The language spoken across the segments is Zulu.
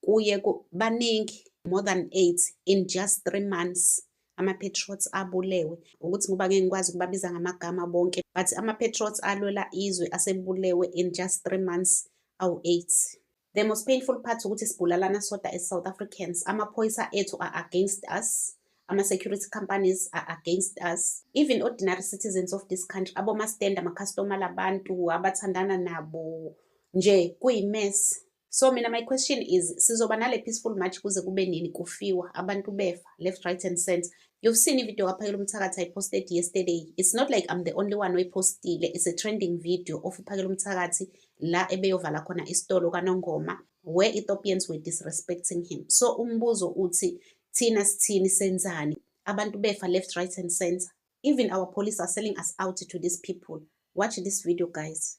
kuye baningi more than eight in just three months ama-patriots abulewe ukuthi ngoba ngeke ngikwazi ukubabiza ngamagama bonke but ama-patriots alwela izwe asebulewe in just three months awu-eight the most painful part ukuthi sibulalana soda e-south africans amaphoyisa ethu are against us ama-security companies are against us even ordinary citizens of this country abomastenda amakhastomala abantu abathandana nabo nje kuyi-mess So mina my question is sizoba nale peaceful march kuze kube nini kufiwa abantu befa left right and center. You've seen ivideo kaPhakela uMthakathi I posted yesterday. It's not like I'm the only one oyipostile. It's a trending video of uPhakela uMthakathi la ebeyovala khona isitolo kaNongoma where Ethiopians were disrespecting him. So umbuzo uthi thina sithini senzani? Abantu befa left right and center. Even our police are selling us out to these people. Watch this video guys.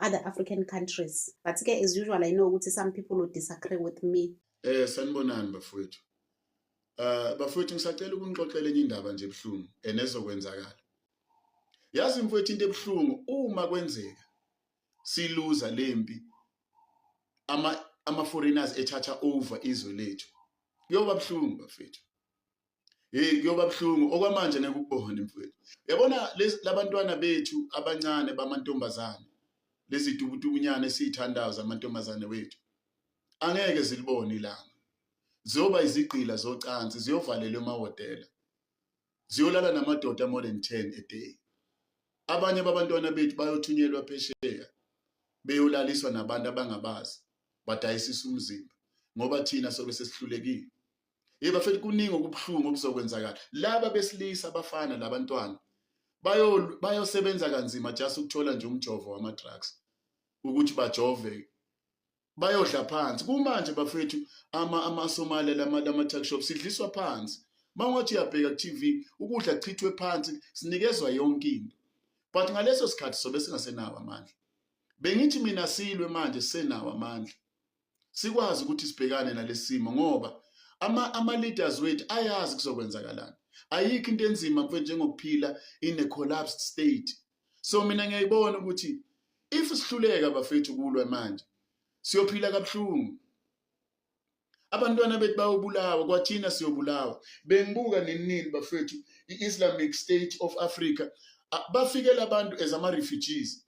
other African countries. But ke as usual I know ukuthi some people will disagree with me. Eh sanibonani bafowethu. Uh bafowethu ngisacela ukunixoxela enye indaba nje ebuhlungu enezokwenzakala. Yazi mfowethu into ebuhlungu uma kwenzeka siluza lempi ama ama foreigners ethatha over izwe lethu. Kuyoba buhlungu bafethu. hey kuyoba buhlungu okwamanje ngeke ukubone mfowethu yabona labantwana bethu abancane bamantombazane lezi dubudubunyana esiyithandayo zamantombazane wethu angeke zilibone ilanga ziyoba izigqila zocansi ziyovalelwa emahhotela ziyolala namadoda more than 10 a day abanye babantwana bethu bayothunyelwa phesheya beyolaliswa nabantu abangabazi badayisisa umzimba ngoba thina sobe sesihlulekile Yebo futhi kuningi okubuhlungu okuzokwenzakala. Laba besilisa abafana labantwana bayo bayosebenza kanzima just ukuthola nje umjovo wama drugs ukuthi bajove bayodla phansi kumanje bafethu ama amasomali lama lama tuck shop sidliswa phansi mangothi uyabheka ku TV ukudla chithwe phansi sinikezwa yonke into but ngaleso sikhathi sobe singasenawo amandla bengithi mina silwe manje senawo amandla sikwazi ukuthi sibhekane nalesimo ngoba ama ama leaders wethu ayazi kuzokwenzakalani ayikho into enzima mfethu njengokuphila in a collapsed state so mina ngiyayibona ukuthi if sihluleka bafethu kulwa manje siyophila kabuhlungu abantwana bethu bayobulawa kwathina siyobulawa bengibuka ninini bafethu i-islamic state of africa bafike labantu as ama-refugees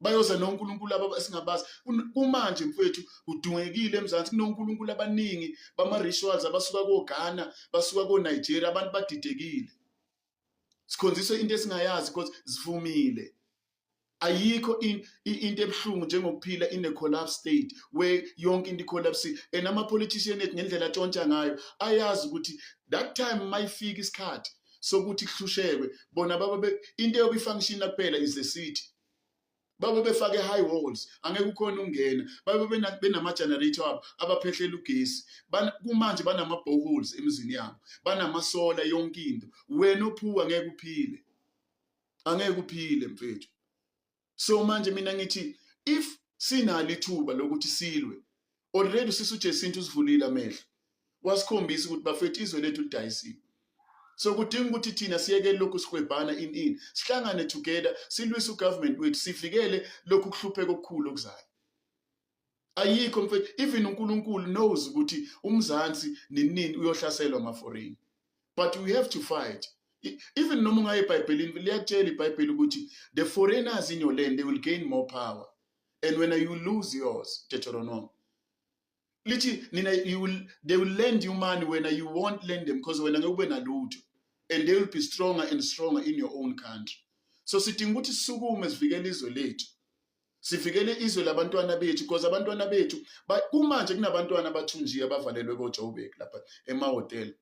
bayoza nonkulunkulu aba esingabazi kumanje mfowethu udungekile emzansi kunonkulunkulu abaningi bama-rituals abasuka koghana basuka konigeria abantu badidekile sikhonziswe into esingayazi because zivumile ayikho into ebuhlungu njengokuphila in a collapse state where yonke into icollapse and ama-politician ethu ngendlela atshontsha ngayo ayazi ukuthi that time mayifika isikhathi sokuthi kuhlushekwe bona baba be into yoku function kuphela is the city baba befake high walls angeke ukhona ungena baba benama generator abo abaphehlela ugesi kumanje banama boreholes emizini yabo banama solar yonke into wena ophuwa ngeke uphile angeke uphile mfethu so manje mina ngithi if sinalo ithuba lokuthi silwe already usisi uJesintu usivulile amehlo wasikhombisa ukuthi bafethu izwe lethu lidayisiwe so kudinga ukuthi thina siyeke lokhu sikwebhana in in sihlangane together silwise ugovernment wethu sivikele lokhu kuhlupheka okukhulu okuzayo ayikho mfethu even uNkulunkulu knows ukuthi umzansi ninini uyohlaselwa amaforeign but we have to fight even noma ungaye ebhayibhelini liyakutshela ibhayibheli ukuthi the foreigners in your land they will gain more power and when you lose yours deuteronomy lithi nina you will, they will lend you money when you won't lend them because wena ngeke ube nalutho and they will be stronger and stronger in your own country so sidinga ukuthi sisukume sivikele izwe lethu sivikele izwe labantwana bethu because abantwana bethu kumanje kunabantwana abathunjiwe abavalelwe kojoburg lapha emahhotela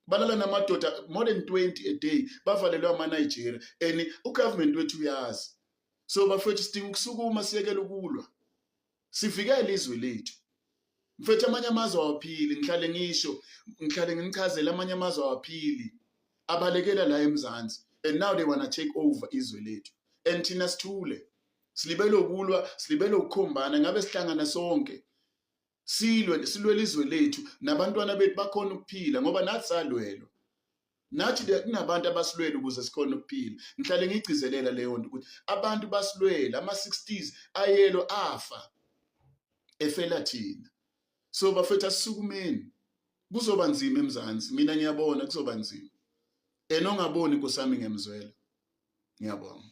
balala namadoda more than 20 a day bavalelwe amanigeria and ugovernment wethu uyazi so bafethu sidinga ukusukuma siyekele ukulwa sivikele izwe lethu mfethu amanye amazwe awaphili ngihlale ngisho ngihlale ngimchazela amanye amazwe awaphili abalekela la emzansi and now they wanna take over izwe lethu and thina sithule silibele ukulwa silibele ukukhombana ngabe sihlangana sonke silwe silwele izwe lethu nabantwana bethu bakhona ukuphila ngoba nathi salwelwa nathi kunabantu abasilwele ukuze sikhone ukuphila ngihlale ngigcizelela leyo nto ukuthi abantu basilwele ama-60s ayelo afa efela thina so bafethu asisukumeni kuzoba nzima emzansi mina ngiyabona kuzoba nzima and ongaboni nkosami ngiyamzwela ngiyabonga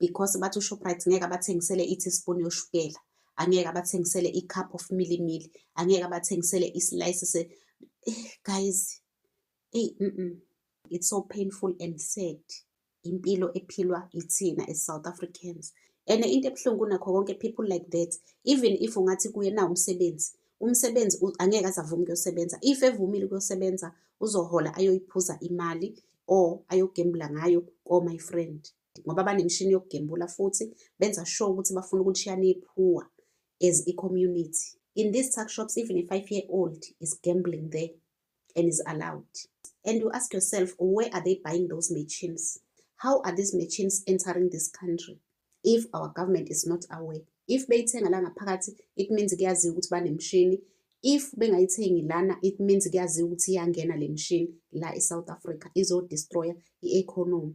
because bathi uShoprite ngeke abathengisele i-teaspoon yoshukela angeke abathengisele i-cup of milimili angeke abathengisele i-slice se eh, guys hey mm -mm. it's so painful and sad impilo ephilwa ithina as South Africans and into ebuhlungu nakho konke people like that even if ungathi kuye na umsebenzi umsebenzi angeke azavume kuyosebenza if evumile kuyosebenza uzohola ayoyiphuza imali or ayogembula ngayo ko my friend ngoba banemishini yokugembula futhi benza sure ukuthi bafuna ukulishiya nephuwa as i-community in these tuck shops even a five year old is gambling there and is allowed and you ask yourself where are they buying those machines how are these machines entering this country if our government is not aware if beyithenga la ngaphakathi it means kuyaziwa ukuthi banemishini if bengayithengi lana it means kuyaziwa ukuthi iyangena le mishini la e-south africa izodestroya i-economy